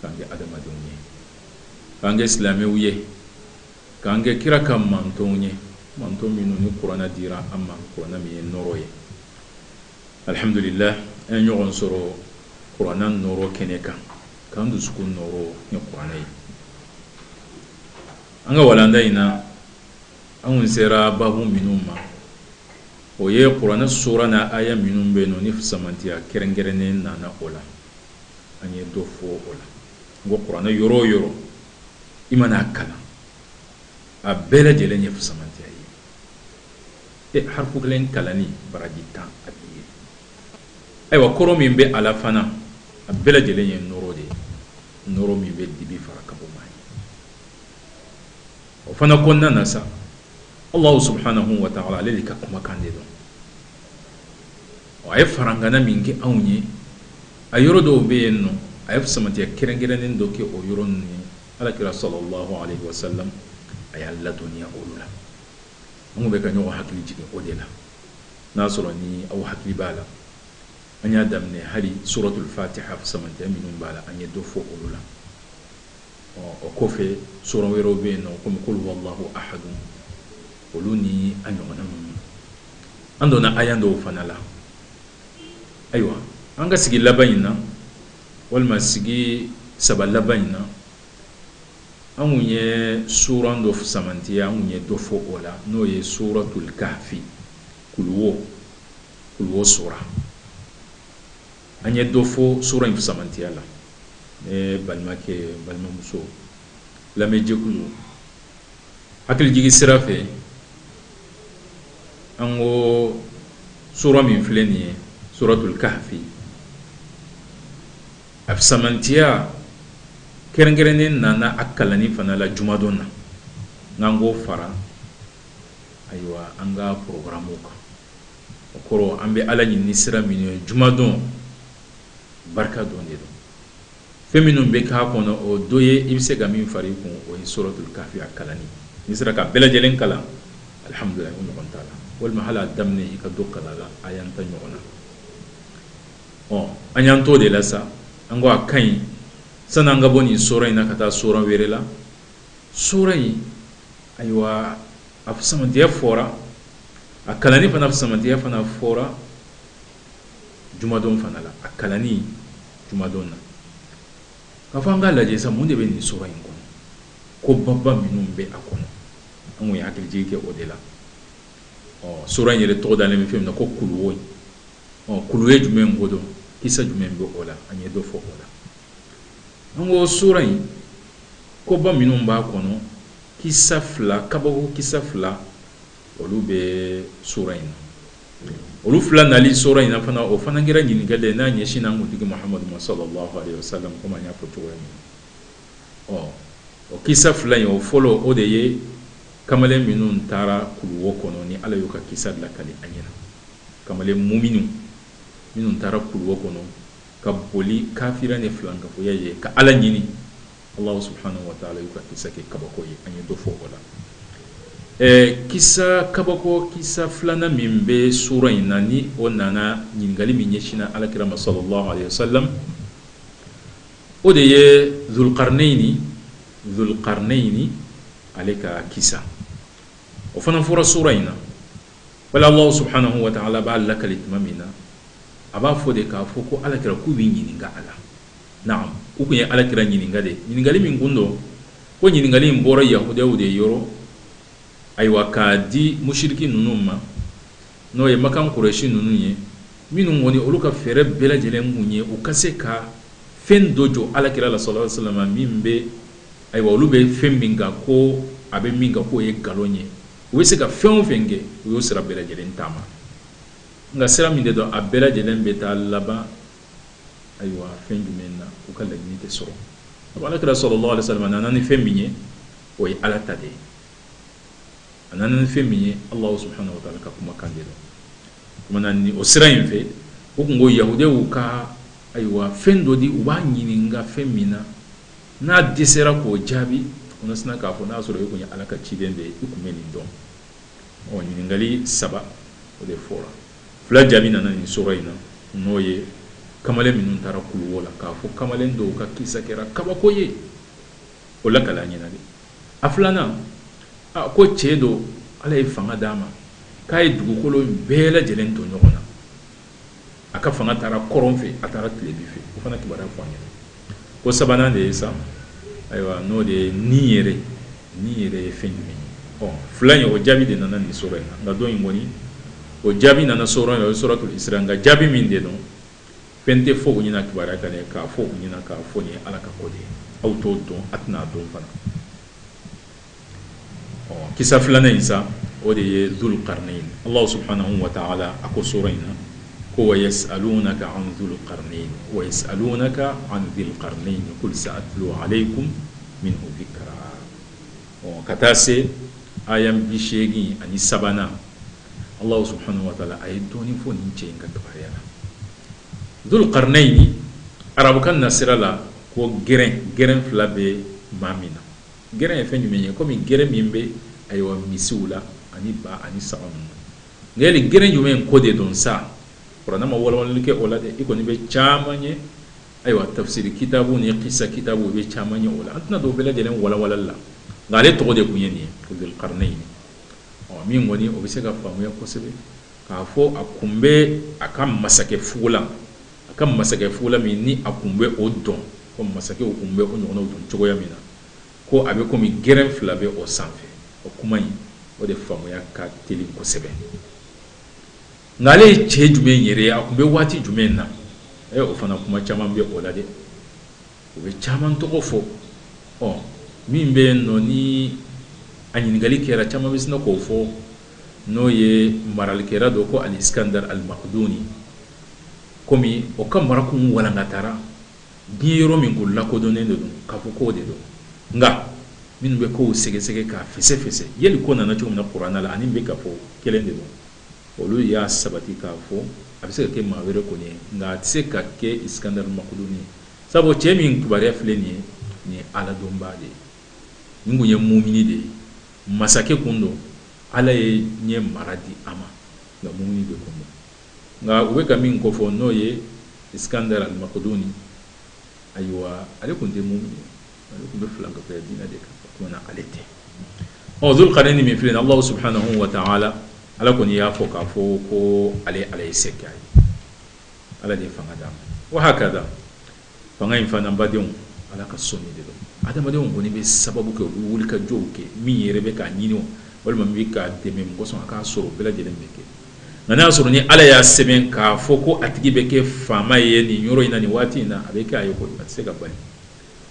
k'an kɛ adamadenw ye k'an kɛ silamɛw ye k'an kɛ kira ka mantɔnw ye mantɔn minnu ni kuranɛ dira an ma kuranɛ min ye nɔrɔ ye alihamdulila an ye ɲɔgɔn sɔrɔ kuranɛ nɔrɔ kɛnɛ kan k'an dusukun nɔrɔ ni kuranɛ ye an ka walanda in na an kun sera babu minnu ma o ye kuranɛ sura n'a aya minnu bɛ yen nɔ ni fisamantiya kɛrɛnkɛrɛnnen nana o la an ye dɔ fɔ o la an ko kuranɛ yɔrɔ o yɔrɔ i mana a kalan a bɛɛ lajɛlen ye fusamantiya ye e harifu kelen kalanni baraji tan a b'i ye ayiwa kɔrɔ min bɛ a la fana a bɛɛ lajɛlen ye nɔrɔ de ye nɔrɔ min bɛ dibi fara ka bɔ maa ye o fana kɔnɔna na sa Allahu subahanahu wa taala ale de ka kumakan de don a ye farangana min kɛ anw ye a yɔrɔ dɔw bɛ yen nɔ a ye fusamantiya kɛrɛnkɛrɛnnen dɔ kɛ o yɔrɔ ninnu ye ala kira sallallahu alayhi wa sallam a y'an ladɔnniya olu la an bɛ ka ɲɔgɔn hakili jigin o de la n'a sɔrɔ ni aw hakili b'a la an y'a daminɛ hali suratul fatiha fusamantiya minnu b'a la an ye dɔ fɔ olu la O kɔfɛ sura wɛrɛw bɛ yen nɔ kɔmi kul huwa Allahu ahadu olu ni a ɲɔgɔnnaw an donna aya dɔw fana la ayiwa an ka sigi laban in na walima sigi saba laban in na an kun ye sura dɔ fisamantiya an kun ye dɔ fɔ o la n'o ye suratul kahfi kuluwo kuluwo sura An ye dɔ fɔ sura in fisamantiya la. N balimakɛ, n balimamuso, lamɛnjɛkulu, hakilijigin sira fɛ, an ko sura min filɛ nin ye, suratul kahfi, a fisamantiya kɛrɛnkɛrɛnnen nana a kalanni fana la jumadon na, an k'o fara, ayiwa, an ka programmes kan. O kɔrɔ an bɛ ala ɲini ni sira minnu ye jumadon barika don de don fɛn minnu bɛ k'a kɔnɔ o dɔ ye i bɛ se ka min fara i kun o ye suratul kahfi a kalanni n'i sera k'a bɛɛ lajɛlen kalan alihamdulilahi o ɲɔgɔn t'a la walima hali a daminɛ i ka dɔ kalan a la aya tan ɲɔgɔnna ɔ an y'an to de la sa an ko a ka ɲi sani an ka bɔ nin sura in na ka taa sura wɛrɛ la sura in ayiwa a fisamantiya fɔra a kalanni fana fisamantiya fana fɔra jumadon fana la a kalanni jumadon na k'a fɔ an k'a lajɛ sa mun de bɛ nin sura in kɔnɔ ko baba minnu bɛ a kɔnɔ an ye hakilijigi kɛ o de la ɔ sura in yɛrɛ tɔgɔ dalen min fɛn min na ko kuluwo kuluwo jumɛn ko don kisa jumɛn bɛ o la an ye dɔ fɔ o la an ko sura in ko ba minnu b'a kɔnɔ Kisa fila, kabako kisa fila, olu bɛ sura in na. Olu fila nali sura in na fana, o fana kɛra ɲininkali ye n'a ɲɛsinna an kuntigi Mahamadu ma salalahu alehi wasalamu komi an y'a fɔ cogoya min na. Ɔ o kisa fila in, o fɔlɔ o de ye kamalen minnu taara kuluwo kɔnɔ ni Ala y'u ka kisa lakali an ɲɛna. Kamalen muminun minnu taara kuluwo kɔnɔ ka boli kafiriya ni filankafoya ye ka Ala ɲini. Alahu subahana wataala y'u ka kisa kɛ kabako ye an ye dɔ fɔ o la ɛɛ kisa kabako kisa filanan min bɛ sura in na ni o nana ɲininkali min ɲɛsinna alakira ma sallallahu alayhi wa sallam o de ye zulukarinɛyini zulukarinɛyini ale ka kisa o fana fɔra sura in na wala Alahu subahana wataala b'a lakali tuma min na a b'a fɔ de k'a fɔ ko alakira k'u b'i ɲininka a la Naamu u tun ye ala kira ɲininka de ɲininkali min kun don ko ɲininkali in bɔra yahudiw de yɔrɔ ayiwa k'a di musiriki ninnu ma n'o ye makan kurayisi ninnu ye minnu kɔni olu ka fɛɛrɛ bɛɛ lajɛlen kun ye u ka se ka fɛn dɔ jɔ ala kira la sallallahu alayhi wa sallam min bɛ ayiwa olu bɛ fɛn min kan ko a bɛ min kan k'o ye nkalon ye u bɛ se ka fɛn o fɛn kɛ u y'o sira bɛɛ lajɛlen taama nka sira min de don a bɛɛ lajɛlen bɛ taa laban ayiwa fɛn jumɛn na u ka laɲini tɛ sɔrɔ ala kira sallallahu alayhi wa sallam nana ni fɛn min ye o ye ala ta de ye a nana ni fɛn min ye Alahu subahana wataala ka kuma kan de la ni o sira in fɛ u tun ko yahudiw ka ayiwa fɛn dɔ di u b'a ɲininka fɛn min na n'a dɛsɛra k'o jaabi u na sin k'a fɔ n'a sɔrɔ e tun ye ala ka ciden de ye i tun bɛ nin dɔn ɔ ɲininkali saba o de fɔra Fila jaabi nana nin sura in na n'o ye kamalen minnu taara kuluwo la k'a fɔ kamalen dɔw ka kisa kɛra kabako ye o lakali an ɲɛna de a filanan a ko cɛ dɔ ala ye fanga d'a ma k'a ye dugukolo in bɛɛ lajɛlen to ɲɔgɔn na a ka fanga taara kɔrɔn fɛ a taara tilebi fɛ o fana kibaruya fɔ an ɲɛna ko sabanan de ye sa ayiwa n'o de ye ni yɛrɛ ni yɛrɛ ye fɛn jumɛn ye fila in o jaabi de nana nin sura in na nka dɔ in kɔni o jaabi nana sura o suratul isra nka jaabi min de don fɛn tɛ fɔ u ɲɛna kibaruya ka dan k'a fɔ u ɲɛna k'a fɔ nin ye ala ka ko de ye aw t'o dɔn a tɛna a dɔn fana kisa filanan in sa o de ye du karinen ye ala sɔrɔ fana wa taa ala a ko so in na ko ye sa ka anwlu karinen ye sa ka anwlu karinen ye ko sa a tulo ale ye kun min bɛ kalan ɔ ka taa se a ye bi seegin ani sabanan ala sɔrɔ fana wa taala a ye dɔɔnin fɔ ni cɛ in ka dɔgɔya la du karinen in arabukan na sira la ko g g fila bɛ maa min na Gɛrɛn ye fɛn jumɛn ye kɔmi gɛrɛn min bɛ ayiwa misiw la ani ba ani saga ninnu nka yali gɛrɛn jumɛn in ko de don sa kuranɛ ma walawalali kɛ o la dɛ i kɔni bɛ caman ye ayiwa tafsiri kitabu ni kisa kitabu i bɛ caman ye o la an tɛna don o bɛɛ lajɛlen walawalali la nka ale tɔgɔ de kun ye nin ye Dul Qarnayn ɔ min kɔni o bɛ se ka faamuya kosɛbɛ k'a fɔ a kun bɛ a ka masakɛ fugulan A ka masakɛ fugula min ni a kun bɛ o don, ko masakɛw kun bɛ o ɲɔgɔnnaw don cogoya min na, ko a bɛ kɔmi gɛrɛn fila bɛ o sanfɛ. O kuma in, o de faamuya ka teli kosɛbɛ. Nka ale ye cɛ jumɛn yɛrɛ ye? A kun bɛ waati jumɛn na? Ɛ, o fana kuma caman bɛ o la dɛ. U bɛ caman tɔgɔ fɔ. Ɔ, min bɛ yen n'o ni a ɲininkali kɛra, caman bɛ sina k'o fɔ, n'o ye maralikɛla dɔ ko Al-Iskandar Al-Makduni. kɔmi o ka mara kun walankatara diɲɛ yɔrɔ min ko lakodɔnnen de don k'a fɔ k'o de don nka minnu bɛ kow sɛgɛsɛgɛ k'a fɛsɛfɛsɛ yali ko nana cogo min na kuranɛ la ani min bɛ ka fɔ kelen de don olu y'a sabati k'a fɔ a bɛ se ka kɛ maa wɛrɛ kɔni ye nka a tɛ se ka kɛ iskandar makuduni ye sabu cɛ min kibaruya filɛ nin ye nin ye aladɔnbaa de ye nin kun ye mumini de ye masakɛ kun don ala ye diɲɛ mara di a ma nka mumini de kun don Nka u bɛ ka min kofɔ n'o ye Iskandar al-Makduni, ayiwa ale kun tɛ mumini ye, ale kun bɛ filankafoya diinɛ de kan, o tuma na ale tɛ. Ɔ Zul Karnayni min filɛ nin ye, Alahu subahanahu wa taala Ala kɔni y'a fɔ k'a fɔ ko ale Ala ye se kɛ a ye, Ala de ye fanga d'a ma. Wa hakada fanga in fana badenw ala ka sɔnni de don adamadenw kɔni bɛ sababu kɛ u wulikajɔw kɛ min yɛrɛ bɛ k'a ɲini walima bɛ k'a dɛmɛ mɔgɔ sɔn a k'a sɔrɔ bɛɛ lajɛlen bɛ kɛ nka n'a y'a sɔrɔ ni ala y'a sɛbɛn k'a fɔ ko a tigi bɛ kɛ faama ye nin yɔrɔ in na nin waati in na a bɛ k'a ye a tɛ se ka bali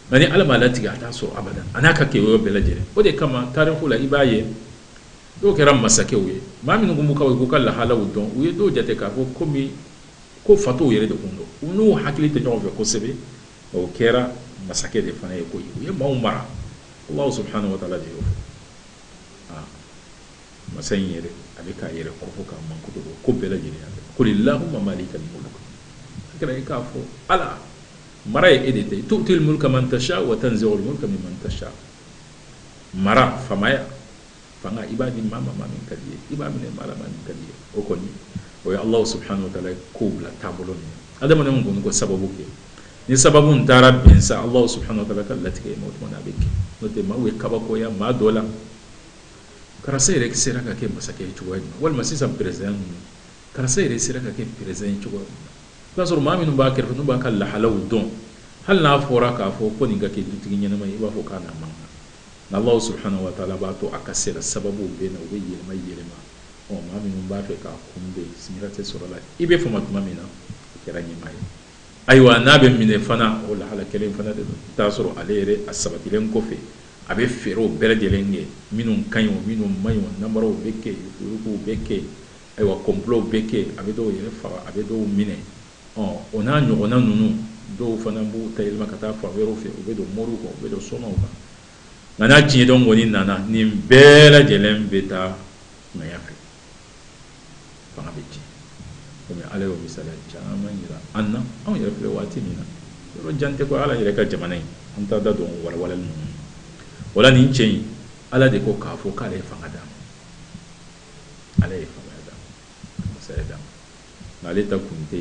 nka ni ala m'a latigɛ a t'a sɔrɔ abada a n'a ka kɛ yɔrɔ bɛɛ lajɛlen o de kama tariku la i b'a ye dɔw kɛra masakɛw ye maa minnu b'u ka u k'u ka lahalaw dɔn u ye dɔw jate k'a fɔ komi Ko fatow yɛrɛ de tun don. U n'u hakili tɛ ɲɔgɔn fɛ kosɛbe, nka u kɛra masakɛ de fana ye koyi. U ye maaw mara. Alahu subahana watala de y'o fɔ. Aa! Masa in yɛrɛ, a bɛ k'a yɛrɛ kofɔ k'a mankutu ko ko bɛɛ lajɛlen ya bɛɛ la. Kuli lahuma maalikal muluk Alakira kira i k'a fɔ, Ala, mara ye e de ta ye. Tu'util mulka man tashaa wa tanzi'ul mulka mimman tashaa Mara, faamaya, fanga i b'a di maa ma maa min ka di ye i b'a minɛ maa la maa min ka di ye o kɔni o ye alahu subahana wa taala ye kow bila taabolo min na adamadenw kɔni ko sababu kɛ ni sababu in taara bɛn sa alahu subahana wa taala ka latigɛ ma o tuma a bɛ kɛ n'o tɛ maaw bɛ kabakoya maa dɔ la karisa yɛrɛ sera ka kɛ masakɛ ye cogoya min na walima sisan perezidan ninnu karisa yɛrɛ sera ka kɛ perezidan ye cogoya min na i b'a sɔrɔ maa minnu b'a kɛrɛfɛ n'u b'a ka lahalaw dɔn hali n'a fɔra k'a fɔ ko nin ka kɛ dutigi ɲɛnama ye i b'a fɔ k'a na man kan Nka Alahu subahana watala b'a to a ka sira sababuw bɛ na u bɛ yɛlɛma yɛlɛma ɔ maa minnu b'a fɛ k'a kunbɛn sigira tɛ sɔrɔ a la i bɛ fama tuma min na o kɛra ɲɛmaa ye ayiwa n'a bɛ minɛ fana o lahala kelen fana de don t'a sɔrɔ ale yɛrɛ a sabatilen kɔfɛ a bɛ fɛɛrɛw bɛɛ lajɛlen kɛ minnu ka ɲi o minnu man ɲi o namaraw bɛ kɛ yen yuruguyuruguw bɛ kɛ yen ayiwa kɔnpilow bɛ kɛ yen a bɛ dɔw yɛrɛ faga a bɛ dɔw minɛ Ɔ o n'a ɲɔgɔnna ninnu dɔw fana b'u ta yɛlɛma ka taa fan wɛrɛw fɛ u bɛ don moriw kan u bɛ don somaw kan nka n'a tiɲɛ don kɔni nana nin bɛɛ lajɛlen bɛ taa ŋaya fɛ fanga bɛ tiɲɛ komi ala y'o misaliya caman jira an na anw yɛrɛ filɛ waati min na yɔrɔ jan tɛ ko ala yɛrɛ ka jamana in an bɛ taa da don walawala ninnu wala nin cɛ in ala de ko k'a fɔ k'ale ye fanga d'a ma ala ye fanga d'a ma masaya d'a ma nka ale ta kun tɛ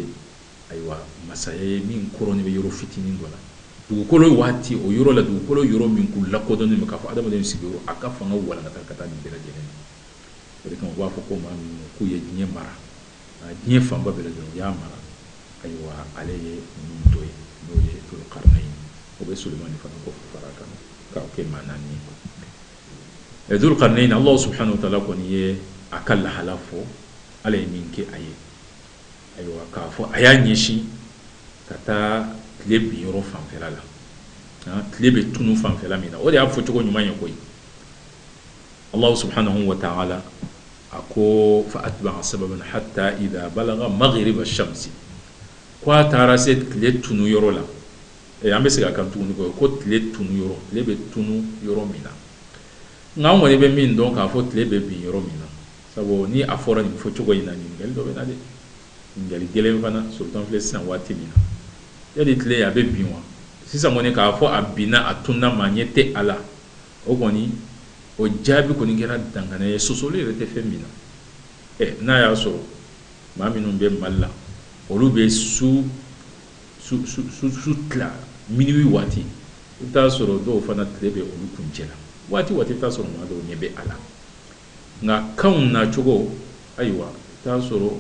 ayiwa masaya ye min koorilen bɛ yɔrɔ fitinin dɔ la dugukolo waati o yɔrɔ la dugukolo yɔrɔ min kun lakodɔnnen don k'a fɔ adamaden sigiyɔrɔ a ka fanga walankata ka taa nin bɛɛ lajɛlen na o de kama u b'a fɔ ko maa min kun ye diɲɛ mara diɲɛ fanba bɛɛ lajɛlen u y'a mara ayiwa ale ye ninnu dɔ ye n'o ye dul karnayn ye o bɛ sulemani fana ko far'a kan k'a kɛ maa naani ye Dul Karnayn Alahu subahana watala kɔni ye a ka lahala fɔ Ala ye min kɛ a ye, ayiwa k'a fɔ a y'a ɲɛsin ka taa tile bin yɔrɔ fanfɛla la, han, tile bɛ tunu fanfɛla min na, o de y'a fɔcogo ɲuman ye koyi, Alahu subahana watala a ko fa atba'a sababan hata iza balaga magiriba samsi k'a taara se tile tunu yɔrɔ la. Ee an bɛ se ka kan tuguni kɔ ko tile tunu yɔrɔ tile bɛ tunu yɔrɔ min na nka an kɔni bɛ min dɔn k'a fɔ tile bɛ bin yɔrɔ min na sabu ni a fɔra nin fɔ cogo in na ɲininkali dɔ bɛ na dɛ ɲininkali gɛlɛn fana surtout an filɛ sisan waati min na yali tile a bɛ bin wa sisan kɔni k'a fɔ a binna a tununa maa ɲɛ tɛ a la o kɔni o jaabi kɔni kɛra dangana ye sɔsɔli yɛrɛ tɛ fɛn min na ɛ n'a y'a sɔrɔ maa minnu bɛ mali la olu bɛ su Su tila minuit waati i bɛ t'a sɔrɔ dɔw fana tile bɛ olu kuncɛ la waati i bɛ t'a sɔrɔ maa dɔw ɲɛ bɛ a la nka kanw nacogo ayiwa i bɛ t'a sɔrɔ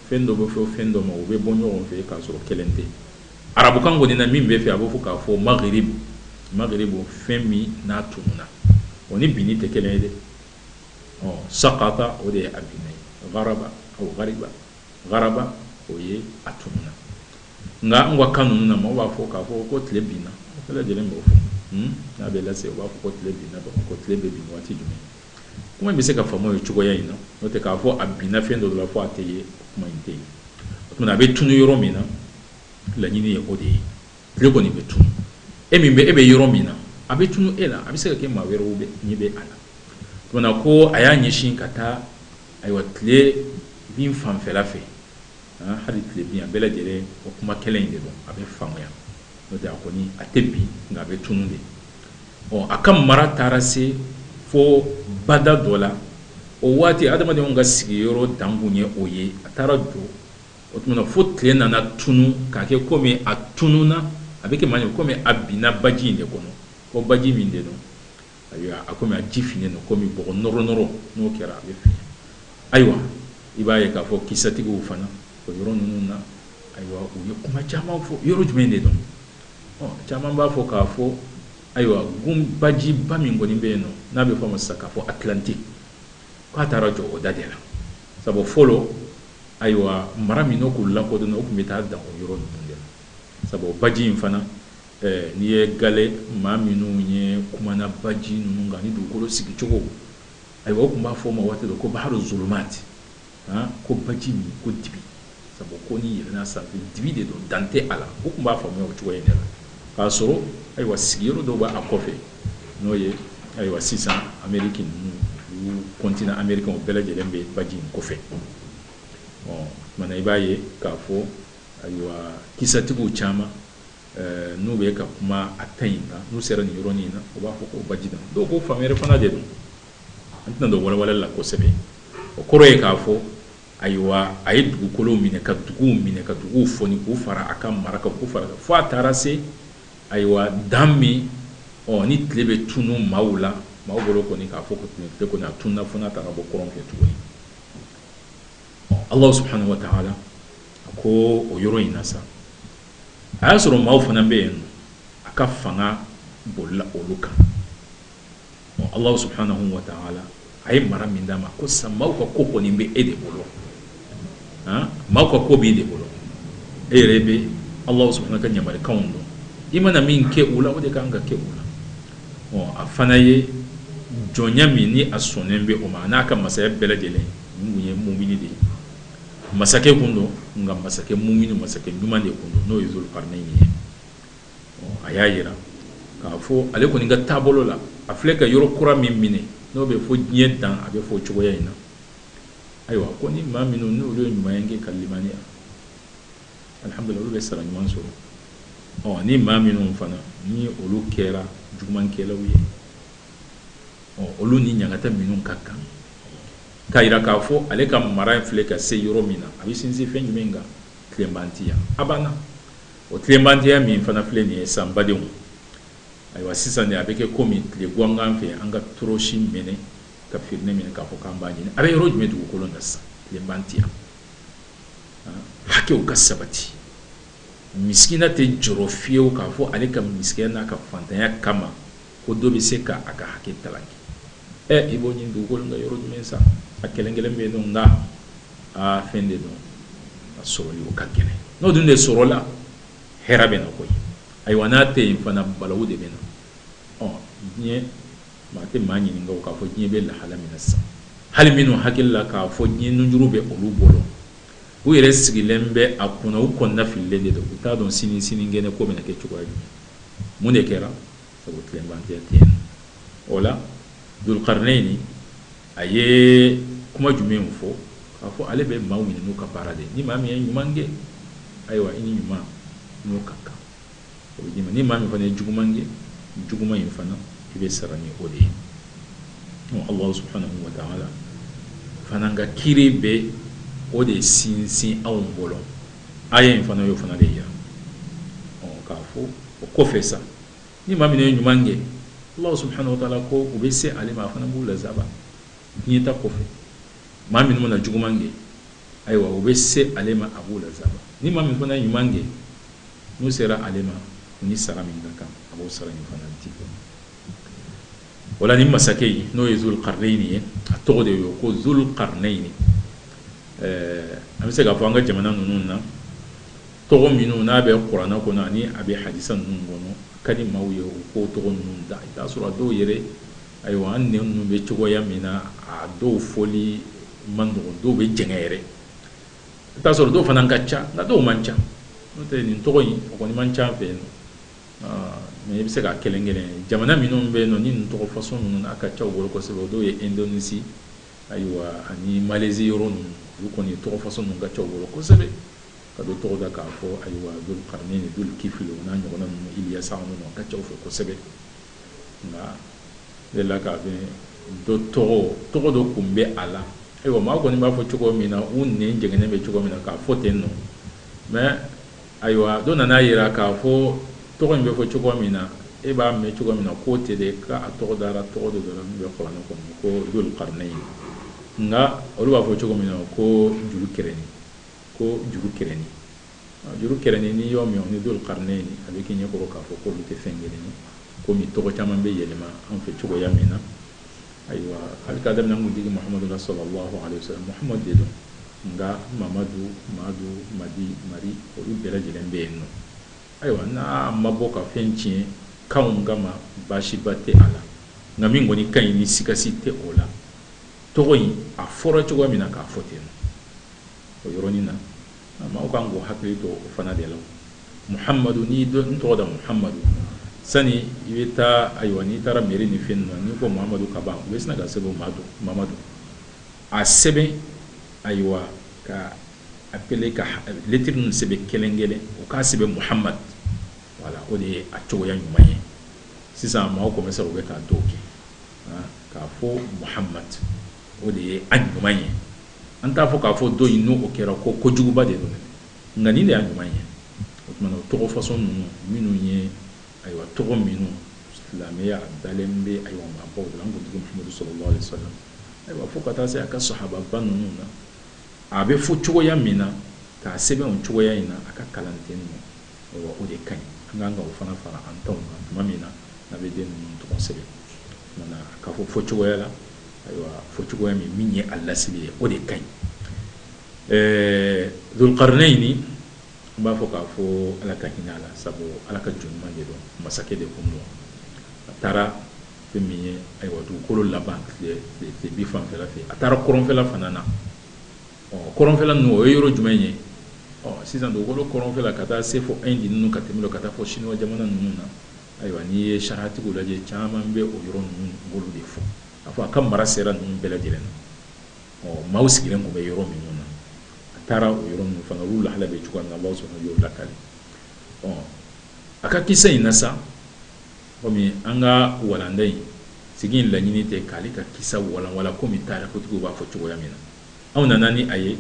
fɛn dɔ bɛ fɔ fɛn dɔ ma u bɛ bɔ ɲɔgɔn fɛ k'a sɔrɔ kelen tɛ arabukan kɔni na min bɛ fɛ a b'a fɔ k'a fɔ maghrib fɛn min n'a tununa o ni binni tɛ kelen ye dɛ ɔ sakata o de ye a binna ye Garaba o ye a tununa nka an ka kan ninnu na maaw b'a fɔ k'a fɔ ko tile binna bɛɛ lajɛlen b'o fɔ hmm? n'a bɛ lase u b'a fɔ ko tile binna dɔrɔn ko tile bɛ bin waati jumɛn kuma in bɛ se ka faamuya cogoya in na n'o tɛ k'a fɔ a binna fɛn dɔ la fo a tɛ ye kuma in tɛ ye o tuma a bɛ tunu yɔrɔ min na laɲini ye o de ye tile kɔni bɛ tunu e min bɛ e bɛ yɔrɔ min na a bɛ tunu e la a bɛ se ka kɛ maa wɛrɛw bɛ ɲɛ bɛ a la tuma ko a y'a ɲɛsin ka taa Ayiwa tile bin fanfɛla fɛ ah, hali tile bin a bɛɛ lajɛlen o kuma kelen in de don a bɛ faamuya n'o tɛ a kɔni a tɛ bin nka a bɛ tunun de ɔ a ka mara taara se fo bada dɔ la o waati adamadenw ka sigiyɔrɔ dan kun ye o ye a taara jɔ o tuma na fo tile nana tunun k'a kɛ komi a tununa a bɛ kɛ maa ye komi a binna baji in de kɔnɔ ko baji min de don Ayiwa a kɔmi a ji finnen don kɔmi bɔgɔ nɔrɔ nɔrɔ n'o kɛra a bɛ fin ayiwa i b'a ye k'a fɔ kisatigiw fana o yɔrɔ ninnu na ayiwa u ye kuma caman fɔ yɔrɔ jumɛn de don caman b'a fɔ k'a fɔ ayiwa g bajiba min kɔni bɛ yen nɔ n'a bɛ fɔ a ma sisan k'a fɔ Atlantique k'a taara jɔ o da de la sabu fɔlɔ ayiwa mara min k'u lakodɔn o tun bɛ taa dan o yɔrɔ ninnu de la sabu o baji in fana n'i ye gale maa minnu ye kumana baji ninnu kan ni dugukolo sigicogo ayiwa o tun b'a fɔ o ma waati ko baharu zulumati ko baji min ko dibi sabu ko n'i yɛlɛnna sanfɛ dibi de don dan tɛ a la o tun b'a faamuya o cogo in de la k'a sɔrɔ ayiwa sigiyɔrɔ dɔw b'a kɔfɛ n'o ye ayiwa sisan ameriki ninnu continent ameriki o bɛɛ lajɛlen bɛ baji in kɔfɛ ɔ tuma i b'a ye k'a fɔ Ayiwa kisatigiw caman n'u bɛ ka kuma a ta in kan n'u sera nin yɔrɔnin in na u b'a fɔ ko baji don dɔw ko fan wɛrɛ fana de don an tɛna don walawalali la kosɛbɛ o kɔrɔ ye k'a fɔ ayiwa a ye dugukolo minɛ ka dugu minɛ ka dugu fɔ k'o fara a ka mara kan k'o fara fo a taara se ayiwa dan min ni tile bɛ tunun maaw la maa bolo kɔni k'a fɔ ko tile ko n'a tununna fo n'a taara bɔ kɔrɔn kɛ tuguni Ala subhanahu wa taala ko o yɔrɔ in na sa a y'a sɔrɔ maaw fana bɛ yen a ka fanga bolila olu kan Ala subhanahu wa taala a ye mara min d'a ma ko sa maaw ka ko kɔni bɛ e de bolo maaw ka ko b'i de bolo e yɛrɛ bɛ Ala subhanahu wa taala ka yamarikan don i mana min kɛ o la o de ka kan ka kɛ o la a fana ye jɔnya min ni a sɔnnen bɛ o ma n'a ka masaya bɛɛ lajɛlen Mun ye mumini de ye masakɛ kun don nka masakɛ mumini masakɛ ɲuman de kun don n'o ye Dulkarinayini ye a y'a jira k'a fɔ ale kɔni ka taabolo la a filɛ ka yɔrɔ kura min minɛ n'o bɛ fɔ diɲɛ dan a bɛ fɔ cogoya in na ayiwa ko ni maa minnu n'olu ye ɲuman in kɛ ka limaniya alihamudulilayi olu bɛ sara ɲuman sɔrɔ ɔ ni maa minnu fana ni olu kɛra jugumankɛlaw ye ɔ olu ni ɲangata minnu ka kan k'a jira k'a fɔ ale ka mara in filɛ ka se yɔrɔ min na a bɛ sinsin fɛn jumɛn kan tilenbantiya abana o tilenbantiya min fana filɛ nin ye sa n badenw ayiwa sisan de a bɛ kɛ komi tile gangan fɛ an ka tɔrɔsi mɛnɛ ka firinɛ mɛnɛ k'a fɔ k'an b'a ɲini a bɛ yɔrɔ jumɛn dugukolo na sisan tilenbantiya hakɛw ka sabati misikina tɛ jɔrɔ fiyewu k'a fɔ ale ka misikinya n'a ka fantanya kama ko dɔ bɛ se ka a ka hakɛ kalaki ɛ i b'o ɲini dugukolo kan yɔrɔ jumɛn sa a kelen kelen bɛ don nka aa fɛn de don a sɔrɔli o ka gɛlɛn n'o dun de sɔrɔla hɛrɛ bɛ na koyi ayiwa n'a tɛ yen fana balawu de bɛ na ɔ diɲɛ maa tɛ maa ɲininka k'a fɔ diɲɛ bɛ lahala min na sisan hali minnu hakili la k'a fɔ diɲɛ nunjuru bɛ olu bolo u yɛrɛ sigilen bɛ a kunna u kɔnɔna fililen de don u t'a dɔn sini sinikɛnɛ ko bɛna kɛ cogoya jumɛn mun de kɛra sabu tilenbantiya tɛ yen o la Dulkarinayini a ye kuma jumɛn fɔ k'a fɔ ale bɛ maaw minɛ n'u ka baara de ni maa min ye ɲuman kɛ ayiwa i ni ɲuman n'o ka kan o bɛ d'i ma ni maa min fana ye juguman kɛ juguman in fana i bɛ sara ni o de ye Ala subhanahu wa taala fana ka kiiri bɛ o de sinsin anw bolo Aya in fana y'o fana de jira k'a fɔ o kɔfɛ sa ni maa min ye ɲuman kɛ ala subhanahu wa ta'ala ko u bɛ se ale ma a fana b'u lazaba diɲɛ ta kɔfɛ maa minnu na juguman kɛ ayiwa u bɛ se ale ma a b'u lazaba ni maa min fana ɲuman kɛ n'u sera ale ma ni sara min ka kan a b'o sara ɲuman fana di voilà nin masakɛ in n'o ye dhul qarnayni ye a tɔgɔ de ye ko dhul qarnayni an bɛ se k'a fɔ an ka jamana ninnu na tɔgɔ minnu n'a bɛ kuranɛ kɔnɔ ani a bɛ hadisa ninnu kɔnɔ ka di maaw ye u k'o tɔgɔ ninnu da i'a sɔrɔ a dɔw yɛrɛ ayiwa an nɛn ninnu bɛ cogoya min na a dɔw fɔli man nɔgɔ dɔw bɛ jɛngɛ yɛrɛ i'a sɔrɔ dɔw fana ka ca nka dɔw man ca n'o tɛ nin tɔgɔ in o kɔni man ca an fɛ yan mais i bɛ se ka kelen kelen jamana minnu bɛ yen nɔ ni nin tɔgɔ façon ninnu a ka ca u bolo kosɛbɛ o dɔw ye Indonésie Ayiwa ani Malaisie yɔrɔ ninnu, olu kɔni tɔgɔ façon ninnu ka ca u bolo kosɛbɛ, ka dɔ tɔgɔ da k'a fɔ, ayiwa, Dhul Qarnayn, Dhul Kifl, o n'a ɲɔgɔnna ninnu, Ilyasa ninnu na, o ka ca u fɛ kosɛbɛ. Nka n delila ka fɛn dɔ tɔgɔ, tɔgɔ dɔ kun bɛ a la, ayiwa, maaw kɔni b'a fɔ cogo min na, u nɛn jɛngɛnen bɛ cogo min na, k'a fɔ ten nɔ, mais Ayiwa dɔ nana a jira k'a fɔ tɔgɔ in bɛ fɔ cogo min na e b'a mɛn cogo min na k'o tɛ de k'a tɔgɔ dara tɔgɔ dɔ dara min bɛ kuranɛ kɔnɔ ko dhul qarnayni nka olu b'a fɔ cogo min na ko juru kɛrɛni ko juru kɛrɛni juru kɛrɛni n'i y'o mɛn o ni dhul qarnayni a bɛ k'i ɲɛkɔrɔ k'a fɔ k'olu tɛ fɛn kelen ye komi tɔgɔ caman bɛ yɛlɛma an fɛ cogoya min na ayiwa hali k'a daminɛ an kuntigi muhamadu la sallallahu alayhi wa salam muhamadu de don nka mamadu madu madi mari olu bɛɛ lajɛlen bɛ yen nɔ ayiwa n'a ma bɔ ka fɛn tiɲɛ kanw kama baasiba tɛ a la nka min kɔni ka ɲi ni siga si tɛ o la tɔgɔ in a fɔra cogo min na k'a fɔ ten o yɔrɔnin na Maaw ka kan k'u hakili to o fana de la Muhamadu n'i y'i den tɔgɔ da Muhamadu sani i bɛ taa ayiwa n'i taara mairie ni fɛn ninnu na n'i ko Muhamadu ka ban u bɛ sina k'a sɛbɛn ko Mamadu a sɛbɛn ayiwa k'a épeler ka lettre ninnu sɛbɛn kelen-kelen u k'a sɛbɛn Muhamadu voilà o de ye a cogoya ɲuman ye sisan maaw commencer ra u bɛ k'a dɔw kɛ k'a fɔ Muhamadu o de ye a ɲuman ye an t'a fɔ k'a fɔ dɔ in n'o kɛra ko ko juguba de don nka nin de y'a ɲuman ye o tuma o tɔgɔ façon ninnu minnu ye ayiwa tɔgɔ minnu silamɛya dalen bɛ ayiwa maabaw la an kuntigi muhamadu sallallahu alayhi wa salam ayiwa fo ka taa se a ka sahababa ninnu na a bɛ fɔ cogoya min na k'a sɛbɛn o cogoya in na a ka kalanden ninnu Ayiwa o de ka ɲi, an ka kan ka o fana fara an taw kan tuma min na n'an bɛ den ninnu tɔgɔ sɛbɛn. O tuma na a ka fɔ fɔcogoya la, ayiwa fɔcogoya min min ye a lasili ye o de ka ɲi. Ɛɛ Zulukarinɛyini, n b'a fɔ k'a fɔ Ala ka hinɛ a la, sabu Ala ka jɔn ɲuman de don, masakɛ de tun don, a taara fɛn min ye, ayiwa dugukolo laban tilebin fanfɛla fɛ, a taara kɔrɔnfɛla fana na. Kɔrɔnfɛla ninnu o ye yɔrɔ jumɛn ye? Ɔ sisan dugukolo kɔrɔnfɛla ka taa se fo Inde ninnu ka tɛmɛ o la ka taa fo Chinois jamana ninnu na, ayiwa n'i ye sariyatigiw lajɛ caman bɛ o yɔrɔ ninnu b'olu de fɔ, a fɔ a ka mara sera ninnu bɛɛ lajɛlen na, ɔ maaw sigilen tun bɛ yɔrɔ minnu na, a taara o yɔrɔ ninnu fana olu lahala bɛ cogoya min na Allahou Soubhanahou wa taala y'o lakali, ɔ a ka kisa in na sa, komi an ka walanda in sigi in laɲini tɛ k'ale ka kisa walanwalan komi tarikutigiw b'a fɔ cogoya min na. anw nana ni a ye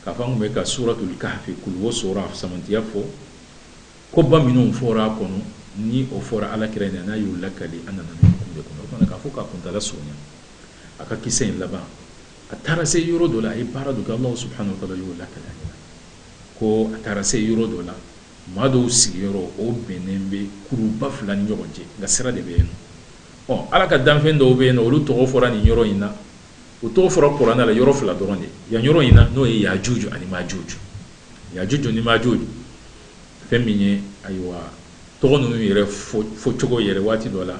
k'a fɔ an tun bɛ ka suratul kahfi kuluwo sura fisamantiya fɔ koba minnu fɔra a kɔnɔ ni o fɔra Ala kira in na n'a y'u lakali an nana nin kun de kɔnɔ o fana k'a fɔ k'a kuntala surunya a ka kisa in laban a taara se yɔrɔ dɔ la a ye baara dɔ kɛ Alahu subahana wa taala y'o lakali an ɲɛna ko a taara se yɔrɔ dɔ la maa dɔw sigiyɔrɔ o bɛnnen bɛ kuruba fila ni ɲɔgɔn cɛ nka sira de bɛ yen nɔ ɔ ala ka danfɛn dɔw bɛ yen nɔ olu tɔgɔ fɔra nin yɔrɔ in na O tɔgɔ fɔra kuranɛ la yɔrɔ fila dɔrɔn de yan yɔrɔ in na n'o ye yajuj ani majuj yajuj ni majuj fɛn min ye ayiwa tɔgɔ ninnu yɛrɛ fɔ cogo yɛrɛ waati dɔ la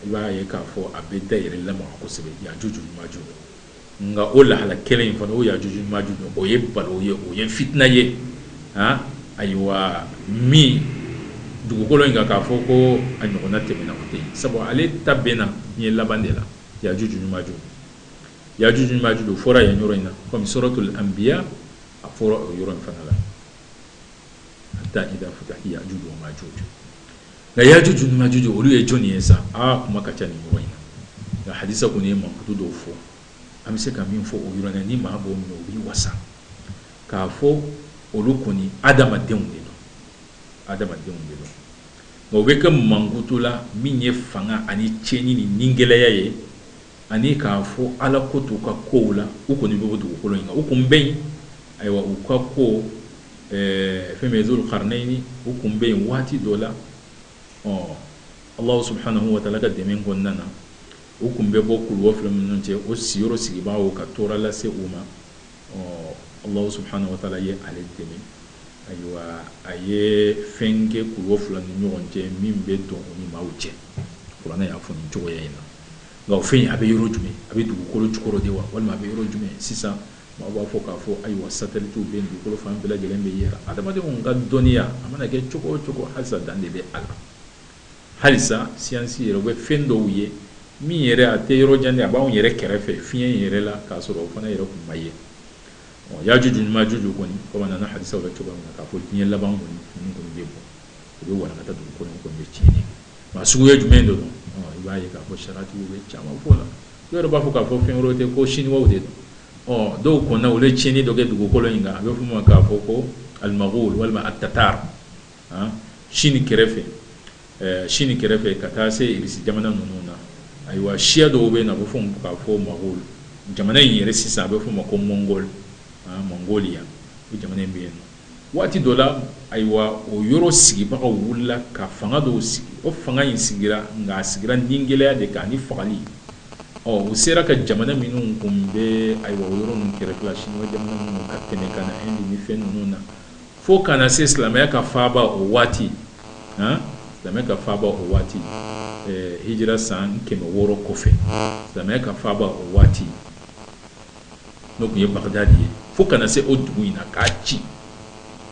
i b'a ye k'a fɔ a bɛ da yɛrɛ lamaga kosɛbɛ yajuj ni majuj nka o lahala kelen in fana o yajuj ni majuj o ye balawu ye o ye fitina ye a ayiwa min dugukolo in kan k'a fɔ ko a ɲɔgɔnna tɛmɛna ko tɛ yen sabu ale ta bɛ na diɲɛ laban de la yajuj ni majuj yajuj ni majuj o fɔra yan yɔrɔ in na comme suratul anbiya a fɔra o yɔrɔ in fana la hatta idha futihat yajuj wa majuj nka yajuj ni majuj olu ye jɔni ye sa aa kuma ka ca nin yɔrɔ in na nka hadisa kɔni ye mankutu dɔw fɔ an bɛ se ka min fɔ o yɔrɔ in na ni maa b'o minɛ o b'i wasa k'a fɔ olu kɔni adamadenw de don adamadenw de don Nka u bɛ ka mankutu la min ye fanga ani cɛnni ni nigɛlɛya ye ani k'a fɔ ala ko t'u ka kow la u kɔni bɛ dugukolo in kan u kun bɛ ayiwa u ka ko fɛn min ye Zulukarinɛyini u kun bɛ yen waati dɔ la ɔ ala subahanahu wa taala ka dɛmɛ kɔnɔna na u tun bɛ bɔ kulu fila ninnu cɛ o sigiyɔrɔ sigibaaw ka tɔɔrɔ lase u ma ɔ allahu subhanahu wa taala ye ale dɛmɛ ayiwa a ye fɛn kɛ kuluw fila ni ɲɔgɔn cɛ min bɛ don u ni maaw cɛ kuranɛ y'a fɔ nin cogoya in na nka o fɛn a bɛ yɔrɔ jumɛn a bɛ dugukolo jukɔrɔ de wa walima a bɛ yɔrɔ jumɛn sisan maaw b'a fɔ k'a fɔ ayiwa satelitiw bɛ dugukolo fan bɛɛ lajɛlen bɛɛ yira adamadenw ka dɔnniya a mana kɛ cogo o cogo halisa dan de bɛ a la halisa siyansi yɛrɛ u bɛ fɛn dɔw ye min yɛrɛ a tɛ yɔrɔ jan a b'anw yɛrɛ kɛrɛfɛ fiɲɛ in yɛrɛ la k'a sɔrɔ o fana yɛrɛ kun ma ye yajuju ni majuju kɔni komi a nana hadisaw la cogo min na k'a fɔ diɲɛ laban kɔni ninnu kɔni bɛ bɔ u bɛ walankata dugu kɔnɔ kɔni bɛ tiɲɛni kɛ nka suguya jumɛn de don i b'a ye k'a fɔ sariyatigiw bɛ caman fɔ la dɔw yɛrɛ b'a fɔ k'a fɔ fɛn wɛrɛ tɛ ko siniwaw de don ɔ dɔw kɔnɔna u ye tiɲɛni dɔ kɛ dugukolo in kan a bɛ f'o ma k'a fɔ ko al magol walima at tatar Chine kɛrɛfɛ, Chine kɛrɛfɛ ka taa se Russie jamana ninnu na, ayiwa siya dɔw bɛ yen nɔ a bɛ fɔ ka fɔ Magol, jamana in yɛrɛ sisan a bɛ f'o ma ko Mongol, Mongolia, o jamana in bɛ yen nɔ, waati dɔ la, ayiwa o yɔrɔ sigibagaw wulila ka fanga dɔw sigi, o fanga in sigira nka a sigira nigɛlɛya de kan ani fagali, ɔ u sera ka jamana minnu kunbɛn ayiwa o yɔrɔ ninnu kɛrɛfɛla, Chinois jamana ninnu ka tɛmɛ ka na Inde ni fɛn ninnu na. fo ka na se silamɛya ka faaba o waati han silamɛya ka faaba o waati eh, hijira san kɛmɛ wɔɔrɔ kɔfɛ silamɛya ka faaba o waati n'o tun ye bagdadi ye fo ka na se o dugu in na k'a ci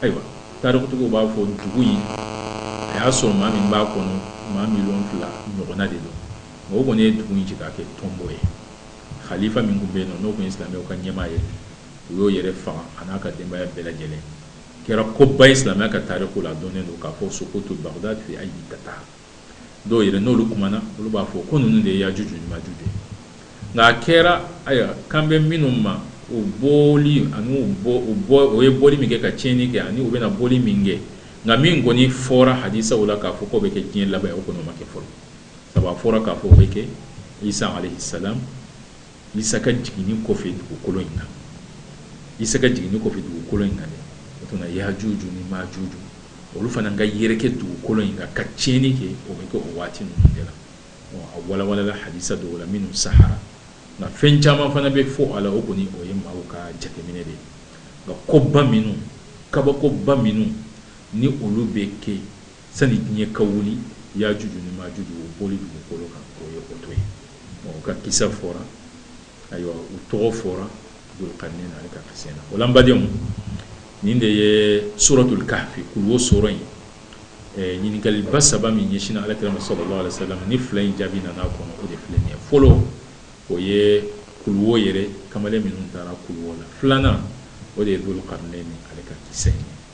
ayiwa tarikutigiw b'a fɔ dugu in a y'a sɔrɔ maa min b'a kɔnɔ maa miliyɔn fila ɲɔgɔnna de don nka o kɔni ye dugu in ci k'a kɛ tonbo ye khalifa min tun bɛ yen nɔ n'o tun ye silamɛw ka ɲɛmaa ye u y'o yɛrɛ faga a n'a ka denbaya bɛɛ lajɛlen kɛra koba ye silamɛya ka taariku la dɔnnen don k'a fɔ suqutu bagdad fi aydi tatar dɔw yɛrɛ n'olu kumana olu b'a fɔ ko ninnu de ye yajuju ni majuju ye nka a kɛra aya kan bɛ minnu ma u bɔli ani u bɔ u bɔ u ye bɔli min kɛ ka tiɲɛni kɛ ani u bɛna bɔli min kɛ nka min kɔni fɔra hadisaw la k'a fɔ k'o bɛ kɛ diɲɛ laban ye o kɔni o ma kɛ fɔlɔ sabu a fɔra k'a fɔ o bɛ kɛ isa alayhi salam Isa ka jiginni kɔfɛ dugukolo in kan. Isa ka jiginni kɔfɛ dugukolo in kan dɛ, o tuma na Yajuju ni Majuju, olu fana ka yɛrɛkɛ dugukolo in kan, ka tiɲɛni kɛ, o bɛ kɛ o waati ninnu de la. Bon a walawalala hadisa dɔw la minnu sahara, nka fɛn caman fana bɛ fɔ a la, o kɔni o ye maaw ka jateminɛ de ye. Nka koba minnu, kabakoba minnu ni olu bɛ kɛ Sani diɲɛ ka wuli, Yajuju ni Majuju o bɔli dugukolo kan, o ye o dɔ ye. Bon u ka kisa fɔra, ayiwa u tɔgɔ fɔra Dulkarnɛni ale ka kisa in na. O la n badenw, nin de ye Suratul kahfi kulu wo sura in ɲininkaliba saba min ɲɛsinna Ala kira ma salalahu alehi wasalam, ni fila in jaabi nana a kɔnɔ, o de filɛ nin ye. Fɔlɔ, o ye kulu wo yɛrɛ kamalen minnu taara kulu wo la. Filanan, o de ye Dulkarnɛni ale ka kisa in ye.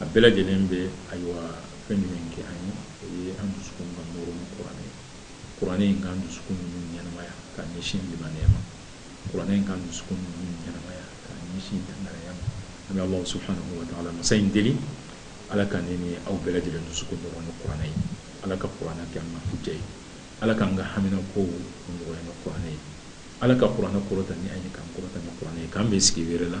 a bɛɛ lajɛlen bɛ ayiwa fɛn jumɛn kɛ an ye o ye an dusukun ka nɔrɔ ni kuranɛ ye kuranɛ in k'an dusukun ninnu ɲɛnamaya ka ɲɛsin limaniya ma kuranɛ in k'an dusukun ninnu ɲɛnamaya ka ɲɛsin dangaraya ma an bɛ Alahu subahanahu wa taala masa in deli Ala ka ne ni aw bɛɛ lajɛlen dusukun nɔrɔ ni kuranɛ ye Ala ka kuranɛ kɛ an ka huja ye Ala k'an ka hamina kow nɔgɔya ni kuranɛ ye Ala ka kuranɛ kɔrɔta ni an ye k'an kɔrɔta ni kuranɛ ye k'an bɛn sigi wɛrɛ la